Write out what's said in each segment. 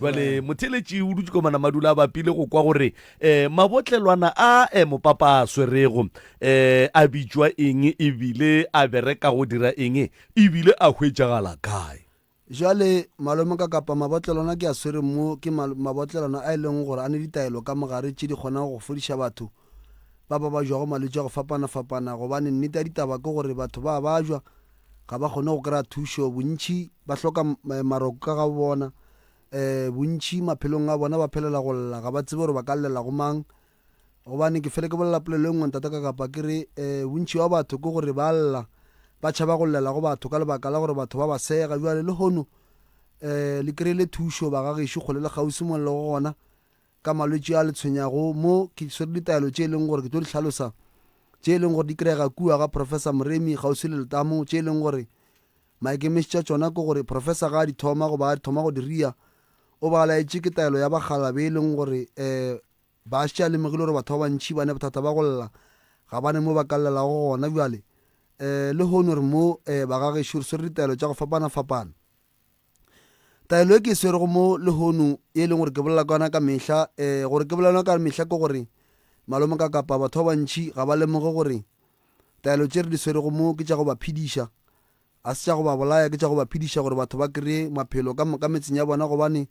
jale motheletši o dutse komana madula a bapile go kwa gore um mabotlelwana a um mopapa a swerego um a bitšwa eng ebile a bereka go dira eng ebile a hwetšagala kae jale malome ka kapa mabotlelwana ke a swereng mo ke mabotlelwana a e leng gore a ne ditaelo ka mogare tše di kgonago go fodiša batho ba babajwago malwetši a go fapana-fapana, gobane nnete ya ditaba ke gore batho ba a bajwa, ga ba kgone go kry-a thušo, bontši ba hloka maroko ka ga bo bona, um bontši maphelong a bona ba phelela go lla, ga ba tsebe gore ba ka llela go mang, gobane ke fele ke bolela polelo e nngwe Ntate Kakapa ke re, um bontši bja batho ke gore ba a lla, ba tšhaba go llela go batho ka lebaka la gore batho ba ba sega, bjale lehono um le kry-ile thušo ba ga gešo kgole le kgauswi mo le lego gona, ka malwetši a le tshwenyago mo ke swere ditaelo tše e leng gore ke tlo di hlalosa tše e leng gore di kry-ega kua ga Professor Moremi kgauswi le letamo tše e leng gore maikemišitšo a tšona ke gore Professor ga a di thoma goba a di thoma go di ria o ba laetše ke taelo ya bagala be e leng gore um ba šitše a lemogile gore batho ba bantšhi ba ne bothata ba go lla ga bane mo ba ka llelago gona bjale um le hone gore mo um ba gagešo re swere ditaelo tša go fapana-fapana taelo e ke e swerego mo lehono ye e leng gore ke bolela ka yona ka mehla um gore ke bolela yona ka mehla ke gore malome ka kapa batho ba bantšhi ga ba lemoge gore taelo tše re di swerego mo ke tša go ba phediša a se tša go ba bolaya ke tša go ba phediša gore batho ba kry-e maphelo ka moka metseng ya bona gobane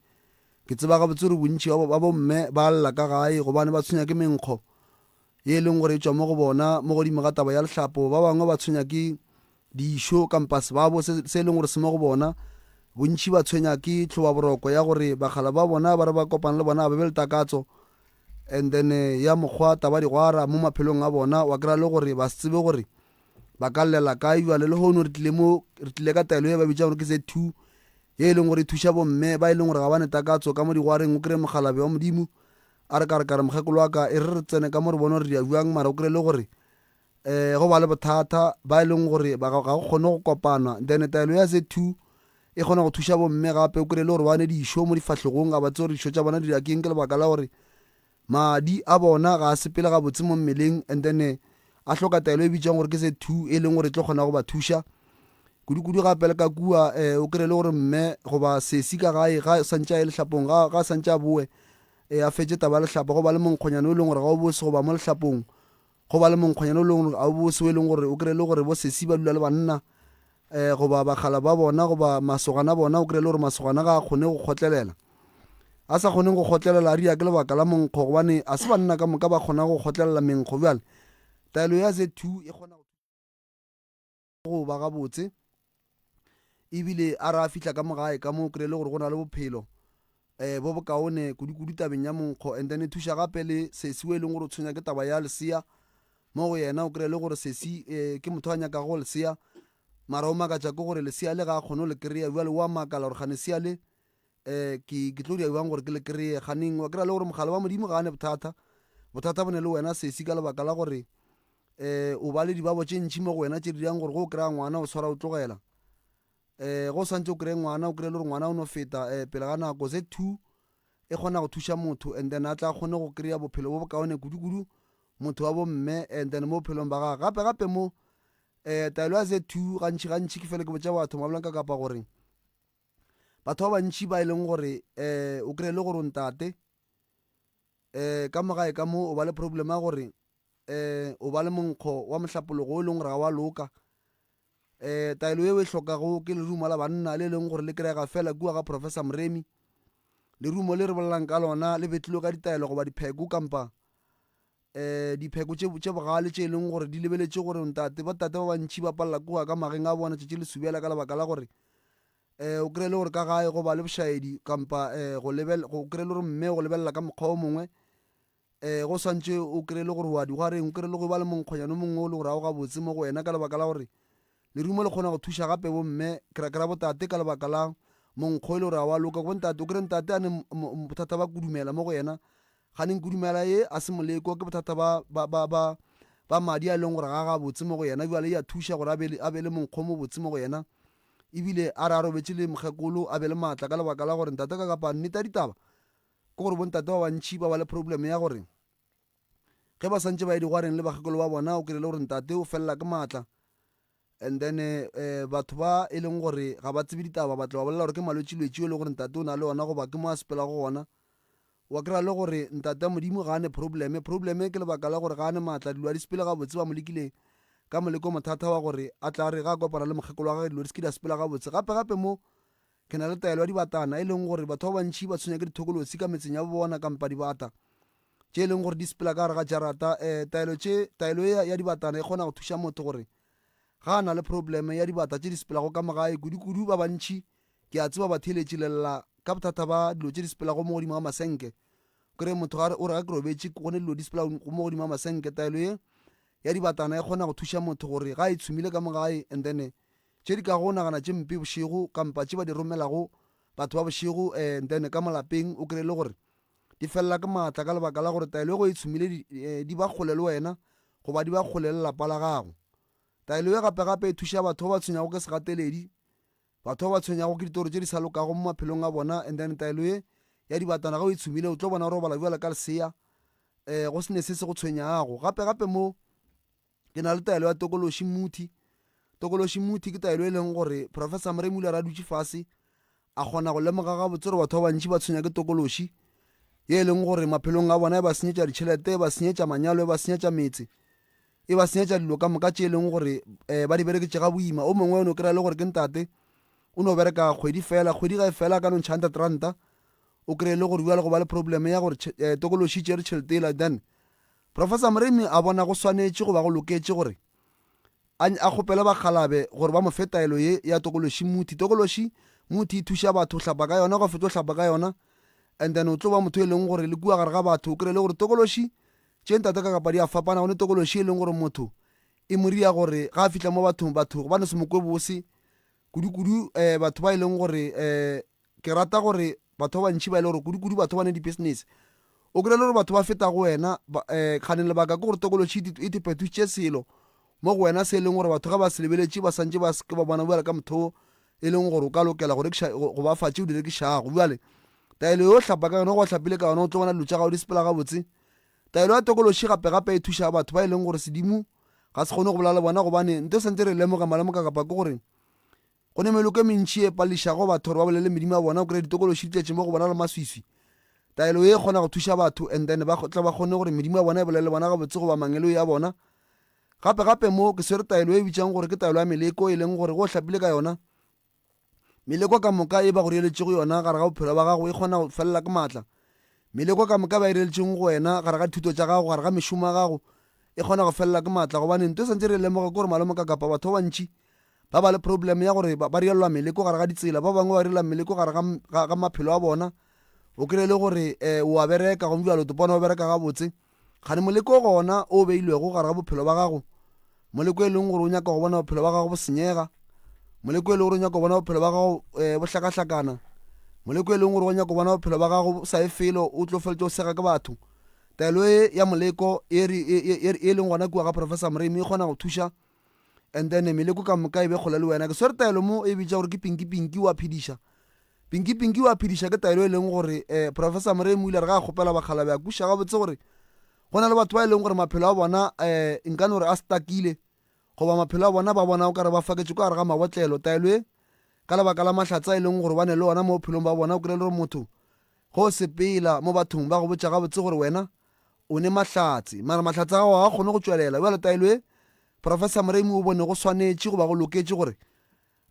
ke tseba gabotse gore bontšhi ba bomme ba lla ka gae gobane ba tshwenya ke menkgo ye e leng gore e tswa mo go bona mo godimo ga taba ya lehlapo ba bangwe ba tshwenya ke dišo kampa sebabo se se e leng gore se mo go bona. Bontši ba tshwenya ke tlhobaboroko ya gore bakgalabje ba bona ba re ba kopana le bona ba be le takatso and then ya mokgwa tabadigwara mo maphelong a bona. Wa kry-a le gore ba se tsebe gore ba ka llela kae. Jwale lehono re tlile mo re tlile ka taelo e ba bitsang gore ke Z two ye e leng gore e thuša bomme ba e leng gore ga ba ne takatso ka mo digwareng. O kry-e mokgalabje wa Modimo a re ka re ka re mokgekolo wa ka e re re tsene ka mo re bone gore re ya jwang mara o kry-e le gore um go ba le bothata ba e leng gore ga go kgone go kopana then taelo ya z two e kgona go thuša bomme gape o kry-e le gore ba ne dišo mo difahlegong ga ba tse gore dišo tša bona di akeng ke lebaka la gore madi a bona ga a sepele gabotse mo mmeleng and then eh, a hloka taelo e bitsang gore ke se two e leng gore e tlo kgona go ba thuša kudu-kudu gape le ka kua um o kry-e le gore mme goba sesi ka gae ga santse a e letlhapong ga santse a boe um a fetse taba ya letlhapa go ba le monkgonyana o e leng gore ga o bose goba mo letlhapong Go ba le monkgwanyana o leng a bobose o e leng gore o kry-e le gore bo sesi ba dula le banna um goba bakgala ba bona goba masogana a bona o kry-e le gore masogana ga a kgone go kgotlelela a sa kgoneng go kgotlelela a ria ke lebaka la monkgo gobane a se banna ka moka ba kgona go kgotlelela menkgo bjale taelo ya z two e kgona go ba gabotse ebile a re a fihla ka mogae ka moo kry-e le gore go na le bophelo um bo bokaone kudu-kudu tabeng ya monkgo and then e thuša gape le sesi o e leng gore o tshwenya ke taba ya lesea mo go yena o kry-e le gore sesi um ke motho a nyakago go lesea mara o makatša ke gore lesea le ga a kgone go le kry-a jale o a makala gore gane sea le um ke ke tlo dira bjang gore ke le kry-e ganeng wa kry-a le gore mogala wa modimo ga a ne bothata bothata bo ne le wena sesi ka lebaka la gore um o ba le dibabo tše ntšhi mo go wena tše di dirang gore go o kry-a ngwana o tshwara o tlogela um go o santse o kry-e ngwana o kry-e le gore ngwana o no feta um pele ga nako ze two e kgona go thuša motho and then a tla kgone go kry-a bophelo bo bokaone kudu-kudu motho wa bomme and then mo bophelong ba gage gape gape mo um taelo ya ze two gantšhi gantšhi ke fele ke botša batho mabolang ka kapa gore Batho ba bantši ba e leng gore um o kry-e le gore o ntate um ka mogae ka mo o ba le problem ya gore um o ba le monkgo wa mohlapologo o e leng gore ga wa loka um taelo eo e hlokago ke lerumo la banna le e leng gore le kry-ega fela kua ga professor moremi lerumo le re bolelang ka lona le betlilwe ka ditaelo goba dipheko kampa Dipheko tše, tše bogale tše e lego gore di lebeletše gore ntate, botate ba bantši ba palela ke go ya ka mageng a bona tšatši le subela ka lebaka la gore um o kry-e le gore ka gae go ba le bošaedi kampa um go lebel, go kry-e le gore mme go lebelela ka mokgwa o mongwe um go swantše o kry-e le gore o a di go a reng o kry-e le go ba le monkgonyana o mongwe o le gore ga o gabotse mo go wena ka lebaka la gore Lerumo le kgona go thuša gape bomme, ke ra, ke ra botate, ka lebaka la monkgo e le gore ga wa loka. Go ntate, o kry-e ntate a ne bothata ba kudumela mo go yena, ga neng kudumela ye a se moleko, ke bothata ba, ba, ba, ba, ba madi a e leng gore ga a gabotse mo go yena. Bjale ya thuša gore a be le, a be le monkgo o mobotse mo go yena, ebile a re a robetše le mokgekolo a be le maatla ka lebaka la gore ntate ka kapang. Nnete ya ditaba ke gore bo ntate ba bantši ba ba le problem ya gore, ge ba swantše ba ye digwareng le bakgekolo ba bona o kry le gore ntate o felela ke maatla and then um batho ba e leng gore ga ba tsebe ditaba ba tla ba bolela gore ke malwetšilwetši yo e le gore ntate o na le ona goba ke mo a sepela go gona wa kry le gore ntate modimo ga a ne probleme probleme ke lebaka la gore ga a ne maatla dilo a di sepele gabotse ba mo lekileng ka moleko mothata wa gore a tla re ga a kopana le mokgekolo wa gage dilo di se ke di a sepela gabotse gape gape mo Ke na le taelo ya dibatana, e leng gore batho ba bantši ba tshwenya ke dithokolosi ka metseng ya bona kampa dibata tše e leng gore di sepela ka gare ga jarata. Eh, taelo tše, taelo ya, ya dibatana e kgona go thuša motho gore ga a na le probleme ya dibata tše di sepelago ka mogae, kudu-kudu ba bantši ke a tseba ba theeletše lela ka bothata ba dilo tše di sepelago mo godimo ga masenke. Kore motho a re, o re ga ke robetše go ne dilo di sepela mo godimo ga masenke. Taelo ye ya dibatana e kgona go thuša motho gore ga e tshumile ka mogae and then tše di kago nagana tše mpe bošego kampa tše ba di romelago batho ba bošego and then ka molapeng o kry le gore di felela ke maatla ka lebaka la gore taelo e go e tshumile di, eh, di ba kgole le wena goba di ba kgole le lapa la gago taelo e gape gape e thuša batho ba ba tshwenyago ke segateledi batho ba ba tshwenyago ke ditoro tše di sa lokago mo maphelong a bona and then taelo e ya dibatana ga o e tshumile o tlo bona gore o bala bjala ka lesea um go sene se se go tshwenyago gape gape mo ke na le taelo ya tokološi muthi tokološi muthi ke taelo e leng gore professor moremi o ile ra dutše fase a kgona go lemoga gabotse gore batho ba bantši ba tshwenya ke tokološi ye e leng gore maphelong a bona e ba senyetša ditšhelete e ba senyetša manyalo e ba senyetša metse e ba senyetša dilo ka moka tše e leng gore um ba di bereketse ga boima o mongwe o ne o kry-a le gore ke ntate o no bereka kgwedi fela kgwedi ga e fela ka no ntšha hundred ranta o kry-e le gore bjale go ba le problem ya gore eh, tokološi tšere tšhelete ela then Professor Moremi a bona go swanetše go ba go loketše gore a a kgopele bakgalabe gore ba mo fe taelo ye ya tokološi muthi. Tokološi muthi e thuša batho go hlapa ka yona, go fetša go hlapa ka yona, and then o tlo ba motho e leng gore le kua gare ga batho o kry-e le gore tokološi tše ntate ka kapa di a fapana, go ne tokološi e leng gore motho e mo ria gore ga a fihla mo bathong batho ba no se mo kwe bose kudu-kudu um batho ba e leng gore um Ke rata gore batho ba bantši ba e le gore kudu-kudu batho ba ne dipisinese, o kry-e le gore batho ba feta go wena. Kgane lebaka ke gore tokološhi e te phetošitše selo mo go wena se e leng gore batho ge ba se lebeletše ba santše ba se ke ba bona bjale ka motho o e leng gore o ka lokela go rekiša go ba fa tše o di rekišago. Bjale taelo yo o hlapa ka yona go hlapile ka yona o tlo bona dilo tša gago di sepela gabotse. Taelo ya tokološhi gape-gape e thuša batho ba e leng gore sedimo ga se kgone go bolela le bona gobane nto santse re lemoga malemoka kapa ke gore Go ne meloko e mentši e pališago batho gore ba bolele medimo ya bona. O kry-a ditokološi di tletše mo go bona le maswiswi. Taelo ye e kgona go thuša batho and then ba tle ba kgone gore medimo ya bona e bolele le bona gabotse goba mangeloi a bona. Gape gape mo ke swere taelo e bitšang gore ke taelo ya meleko e leng gore go o hlapile ka yona, meleko ka moka e ba go riyeletšego yona gare ga bophelo ba gago e kgona go felela ke maatla. Meleko ka moka e ba e riyeletšego go wena gare ga dithuto tša gago, gare ga mešomo ya gago e kgona go felela ke maatla gobane nto e swantše re e lemoge ke gore malomokakapa batho ba bantši ba ba le problem ya gore ba rielwa meleko gare ga ditsela ba bangwe ba rielwa meleko gare ga maphelo a bona o kry le gore um wa bereka gomme jalo topone wa bereka gabotse gane moleko gona o beilwego gare ga bophelo ba gago moleko e leng gore o nyaka go bona bophelo ba gago bo senyega moleko e leng gore o nyaka go bona bophelo ba gago um bo hlakahlakana moleko e leng gore o nyaka go bona bophelo ba gago sa e felo o tlo feletse o sega ke batho taelo e ya moleko e, e, e, e leng gona kua ga professor moremi e kgona go thuša and then meleko ka moka e be kgole le wena ke swere taelo mo e bitša gore ke pinki pinki wa phediša pinki pinki wa phediša ke taelo e leng gore um professor moremo o ile re ga a kgopela bakgala be a kuša gabotse gore go na le batho ba e leng gore maphelo a bona um nkane gore a stakile goba maphelo a bona ba bona o ka re ba faketse ko gare ga mabotlelo taelo e ka lebaka la mahlatsa e leng gore ba ne le ona mo bophelong ba bona o kry-e le gore motho Go sepela mo bathong ba go botša gabotse gore wena o ne mahlatse, mara mahlatse a gago ga a kgone go tšwelela. Bjale taelo ye Professor Moremi o bone go swanetše goba go loketše gore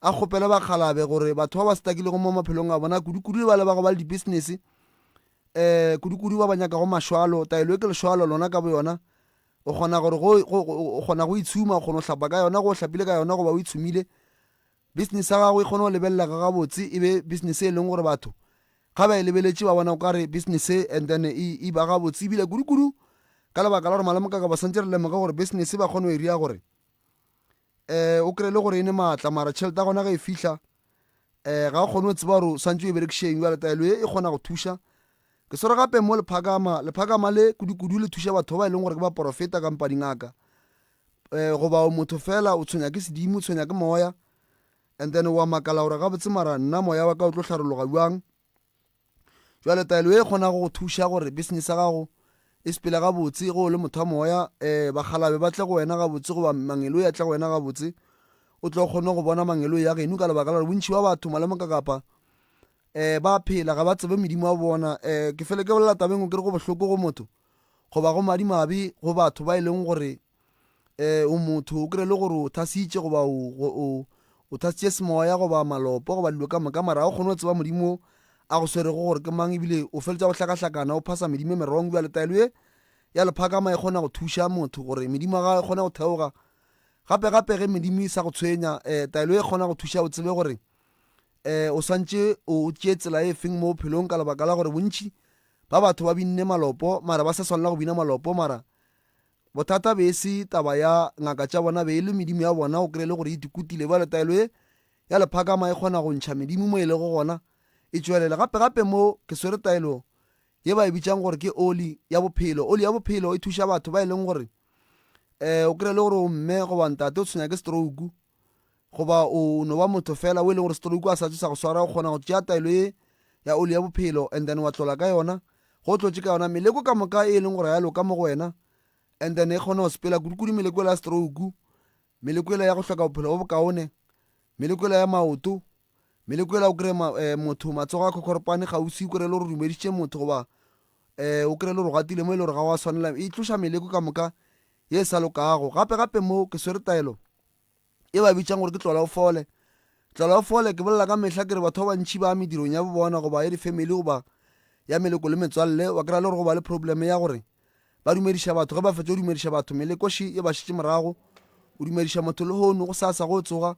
a kgopele bakgalabe gore batho ba ba stakilego mo maphelong a bona, kudukudu le bale ba go ba le dibisinese, um kudukudu ba ba nyakago mašwalo, taelo ye ke lešwalo lona ka boyona, o kgona gore go, go, go, o kgona go itshuma, o kgona go hlapa ka yona, go o hlapile ka yona goba o itshumile, Bisinese ya gago e kgone go lebelelega gabotse e be bisinese e leng gore batho ga ba e lebeletše ba bona o ka re bisinese and then e, e ba gabotse ebile kudu-kudu ka lebaka la gore malome ka ba santse re lemoge gore bisinese ba kgone go e ria gore um o kry-e le gore e ne maatla mara tšhelete ya gona ge e fihla um ga o kgone go tseba gore o santse o e berekišeng jale taelo e e kgona go thuša ke swere gape mo lephakama lephakama le kudu-kudu le thuša batho ba e leng gore ke ba porofeta kampa dingaka eh, goba o motho fela o tshwenya ke sedimo o tshwenya ke moya and then wa makala gore gabotse mara nna moya wa ka o tlo tlharologa bjang jale taelo e kgona go go thuša gore business ya gago e sepele gabotse go o le motho wa moya um eh, bagalabe ba tle go wena gabotse goba mangelo ya tle go wena gabotse o tlo kgone go bona mangelo ya geno ka lebaka la gore bontšhi ba batho malemoka kapa um ba phela ga ba tsebe medimo wa bona um ke fele ke bolela tabeng o kere go bohloko go motho goba go madimabe go batho ba e leng gore um o motho o kry le gore o thasitše goba o thasitše semoya goba malopo goba dilo ka moka mara o kgone go tseba modimo a go swerego gore ke mang ebile o feletsa go hlakahlakana o phasa medimo e merong bjale taelo e ya lephakama e kgona go thuša motho gore medimo ga e kgone go theoga gape gape ge medimo e sa go tshwenya um taelo e kgona go thuša o tsebe gore um o swantše o tšee tsela e feng mo bophelong ka lebaka la gore bontši ba batho ba binne malopo mara ba sa swanela go bina malopo mara bothata be e se taba ya ngaka tša bona be e le medimo ya bona o kry le gore e dikutile bjale taelo e ya lephakama e kgona go ntšha medimo mo e lego gona e tšwelela gape gape mo ke swere taelo ye ba e bitsang gore ke oli ya bophelo oli ya bophelo e thuša batho ba e leng gore um o kry le gore o mme goba ntate o tshwenya ke stroke Goba o no ba motho fela o e leng gore stroke a sa tšo sa go swara, o kgona go tšea taelo ye ya oli ya bophelo and then wa tlola ka yona, go tlotše ka yona meleko ka moka e e leng gore ga ya loka mo go wena, and then e kgona go sepela kudu-kudu meleko ela ya stroke, meleko ela ya go hloka bophelo bo bokaone, meleko ela ya maoto, meleko ela o kry-e ma, eh, motho matsogo a khokhoropane kgauswi, o kry-e le gore o dumeditše motho goba eh o kry-e le gore o gatile mo e le gore ga wa swanela, e tloša meleko ka moka ye e sa lokago. Gape-gape mo ke swere taelo e ba bitšang gore ke tlolaofole. Tlolaofole, ke bolela ka mehla ke re batho ba bantši ba medirong ya bobona goba ya difamily goba ya meleko le metswalle, wa kry-a le gore go ba le probleme ya gore ba dumediša batho ge ba fetsa go dumediša batho melekoši e ba šitše morago o dumediša motho le hono go sasa go tsoga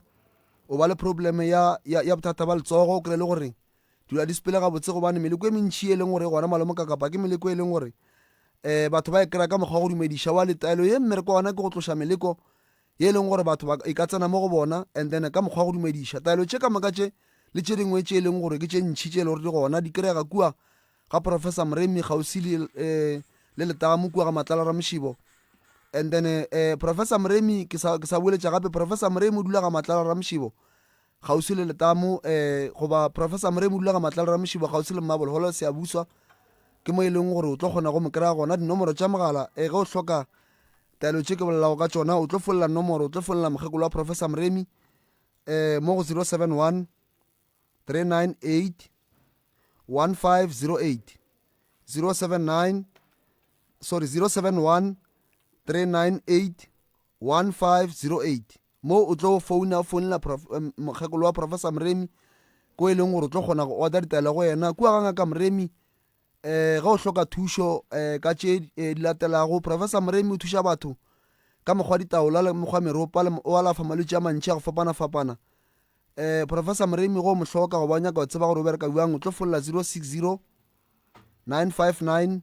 o ba le probleme ya, ya, ya bothata ba letsogo o kry le gore dula di sepele gabotse gobane meleko e mentšhi e leng gore gona malomo ka kapa ke meleko e leng gore um batho ba e kry-a ka mokgwa wa go dumediša wa letaelo ye mmereko ona ke go tloša meleko ye e leng gore batho ba e ka tsena mo go bona, and then ka mokgwa wa go dumediša. Taelo tše ka moka tše le tše dingwe tše e leng gore ke tše ntšhi tše e le gore di gona di kry-ega kua ga Professor Moremi kgauswi le um le letamo kua ga Matlala Ramošibo. And then um Professor Moremi ke sa ke sa boeletša gape, Professor Moremi o dula ga Matlala Ramošibo. kgauswi le letamo um goba professor moremi o dula ga matlalo ramošibo kgauswi le mmabolo holo seabuswa ke mo e leng gore o tlo kgona go mo kry-a gona dinomoro tša mogala um ge o hloka taelo tše ke bolelago ka tšona o tlo folela nomoro o tlo folela mokgekolo wa professor moremi um mo go zero seven one three nine eight one five zero eight zero seven nine sorry zero seven one three nine eight one five zero eight Mo o tlo founa, o founela mokgekolo wa Professor Mremi, ko e leng gore o tlo kgona go order ditaelo go yena. Kua ga Ngaka Mremi, um ge o hloka thušo um ka tše di latelago, Professor Mremi o thuša batho ka mokgwa ditaola le mokgwa meropa le o alafa malwetši a mantši a go fapana-fapana. Um Professor Mremi ge o mo hloka goba o nyaka go tseba gore o bereka bjang, o tlo folela zero six zero nine five nine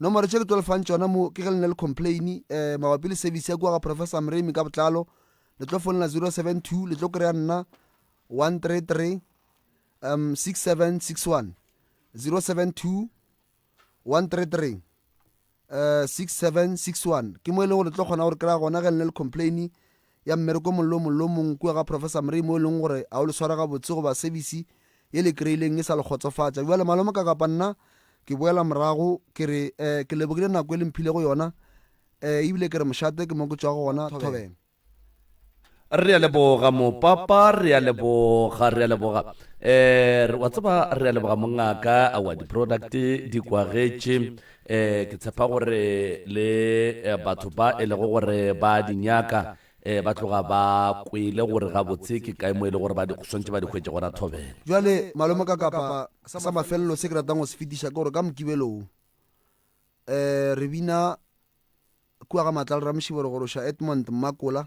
Nomoro tše ke tlo lefang tšona mo ke ge le ne le complain eh, mabapi le service ya kua ga Professor Mremi ka botlalo le tlo fonela 072 le tlo kry-a nna 133 um 6761 072 133 uh, 6761 ke mo e leng gore le tlo kgona gore kry-a gona ge le ne le complain ya mmereko o mongwe le o mongwe le o mongwe kua ga Professor Murray mo e lego gore ga o le sware gabotse goba sebisi ye le e kreileng e sa le kgotsofatša. Bjale, malome, ka kapa nna ke boela morago, ke re, eh, ke lebogile nako e le mphilego yona, eh, ebile ke re mošate ke mo ke tšwago gona thobela. Re a leboga, Mopapa, re a leboga, re a leboga. Eh, wa tseba, re a leboga, mongaka, aowa, di-product di kwagetše. Ee, ke tshepa gore le eh, batho ba e lego gore ba a di nyaka eh, ba tloga ba kwele gore gabotse ke kae mo e le gore ba di- swantše ba di hwetše gona thobela. Bjale, malome ka kapa sa mafelelo se ke ratang go se fetiša ke gore ka mokibelo wo, um re bina kua ga Matlal Ramšiboro gore o ša Edmond Mmakola,